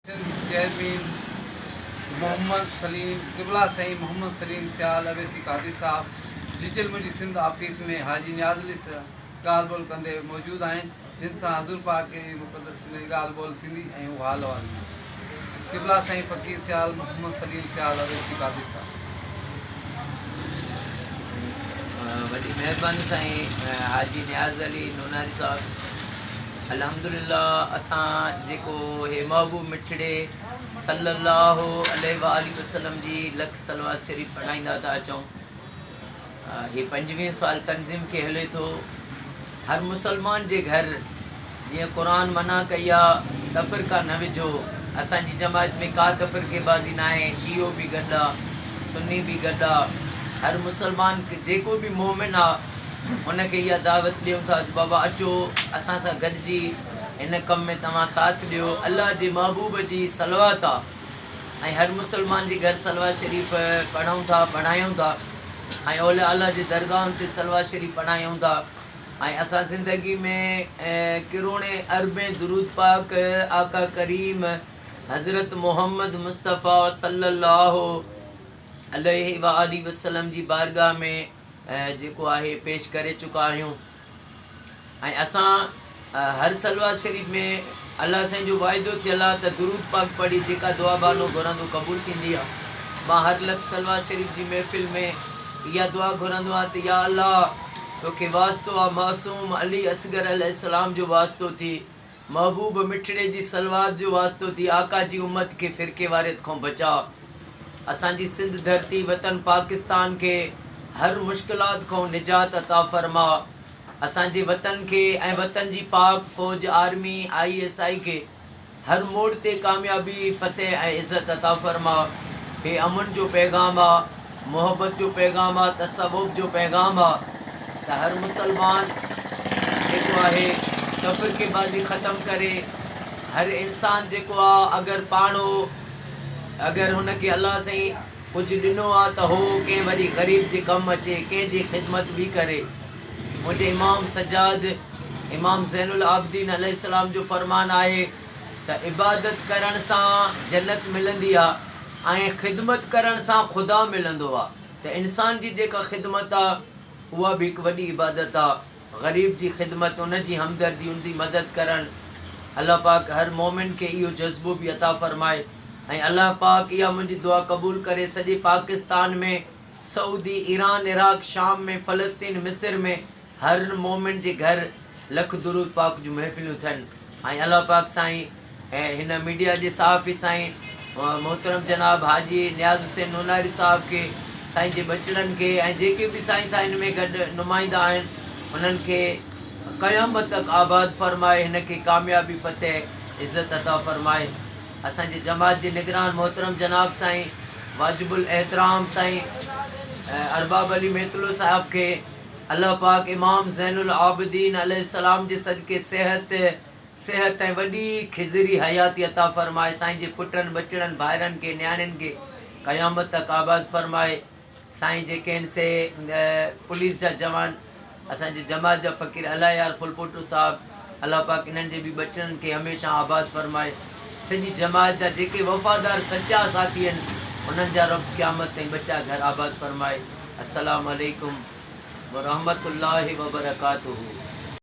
Sindh chairman Muhammad Saleem قبلا سائين محمد سليم سيال اويسي قاضي صاحب جيجلمه جي سنڌ آفيس ۾ حاجي نياز علي سره ڳالهه ٻولهه ڪندي موجود آهن جن سان حضور پاڪ جي مقدس ۾ ڳالهه ٻولهه ٿيندي ۽ هو حال احوال ڏيندا قبلا سائين فقير سيال محمد سليم سيال اويسي قاضي صاحب وڏي مهرباني سائين حاجي نياز علي نوناري صاحب الحمدلله اسان جيڪو هي محبوب مٺڙي صلّي الله عليه واٰله وسلّم جي لک صلوات شريف پڙهائيندا ٿا اچون هي پنجويهون سال تنظيم کي هلي ٿو هر مسلمان جي گهر جيئن قرآن منع ڪئي آ تفرقا نه وجهو اسان جي جماعت ۾ ڪا تفرقي بازي ناهي شيعو به گڏ آ سني به گڏ آ هر مسلمان جيڪو به مومن آ ان کي اها دعوت ڏيون ٿا ته بابا اچو اسان سان گڏجي هن ڪم ۾ توهان ساٿ ڏيو الله جي محبوب جي صلوات آهي ۽ هر مسلمان جي گهر صلوات شريف پڙهون ٿا پڙهايون ٿا ۽ اولياء الله جي درگاهن تي صلوات شريف پڙهايون ٿا ۽ اسان زندگي ۾ ڪروڙين اربين درود پاڪ آقا ڪريم حضرت محمد مصطفيٰ صلّي اللّٰه عليه واٰله وسلّم جي بارگاهه ۾ جيڪو آهي پيش ڪري چڪا آهيون ۽ اسان هر صلوات شريف ۾ الله سائين جو واعدو ٿيل آ ته درود پاڪ پڙهي جيڪا دعا بانو گهرندو قبول ٿيندي آ مان هر لفظ صلوات شريف جي محفل ۾ اها دعا گهرندو آهيان ته يا الله توکي واسطو آ معصوم علي اصغر عليه السلام جو واسطو ٿي محبوب مٺڙي جي صلوات جو واسطو ٿي آقا جي امت کي فرقي واريت کون بچاء اسان جي سنڌ ڌرتي وطن پاڪستان کي هر مشڪلات کون نجات عطا فرماء اسان جي وطن کي ۽ وطن جي پاڪ فوج آرمي آئي ايس آئي کي هر موڙ تي ڪاميابي فتح ۽ عزت عطا فرماء هي امن جو پيغام آ. محبت جو پيغام آ، تصوف جو پيغام آ ته هر مسلمان جيڪو آهي تفرقي بازي ختم ڪري، هر انسان جيڪو آ اگر پاڻ هو اگر هن کي الله سائين ڪجهه ڏنو آ ته هو ڪنهن وري غريب جي ڪم اچي ڪنهن جي خدمت به ڪري منهنجي امام سجاد امام زين العابدين عليه السلام جو فرمان آهي. ته عبادت ڪرڻ سان جنت ملندي آ ۽ خدمت ڪرڻ سان خدا ملندو آ ته انسان جي جيڪا خدمت آ اها به هڪ وڏي عبادت آ غريب جي خدمت ان جي همدردي ان جي مدد ڪرڻ الله پاڪ هر مومن کي اهو جذبو به عطا فرمائي ۽ الله پاڪ اها منهنجي دعا قبول ڪري سڄي پاڪستان ۾ سعودي ايران عراق شام ۾ فلسطين مصر ۾ هر مومن جي گهر لک درود پاڪ جون محفلون ٿين ۽ الله پاڪ سائين ۽ هن ميڊيا جي صحافي سائين محترم جناب حاجي نياز حسين نوناري صاحب کي سائين جي ٻچڙن کي ۽ جيڪي به سائين سان هن ۾ گڏ نمائندا آهن انهن کي قيامت تڪ آباد فرمائي هن کي ڪاميابي فتح عزت عطا فرمائي اسان جي جماعت جي نگران محترم جناب سائين واجب الاحترام سائين ارباب علي ميتلو صاحب کي الله پاڪ امام زين العابدين عليه السلام جي صدقي صحت، صحت ۽ وڏي خضري حياتي عطا فرمائي، سائين جي پٽن، ٻچڙن، ڀائرن کي، نياڻين کي قيامت تڪ آباد فرمائي، سائين جي ڪين سي پوليس جا جوان، اسان جي جماعت جا فقير الله يار ڦلپوٽو صاحب، الله پاڪ انهن جي به ٻچڙن کي هميشه آباد فرمائي. سڄي جماعت جا جيڪي وفادار سچا ساٿي آهن انهن جا رب قيامت تائين ٻچا گهر آباد فرمائي. السلام عليڪم ورحمة الله وبرڪاته.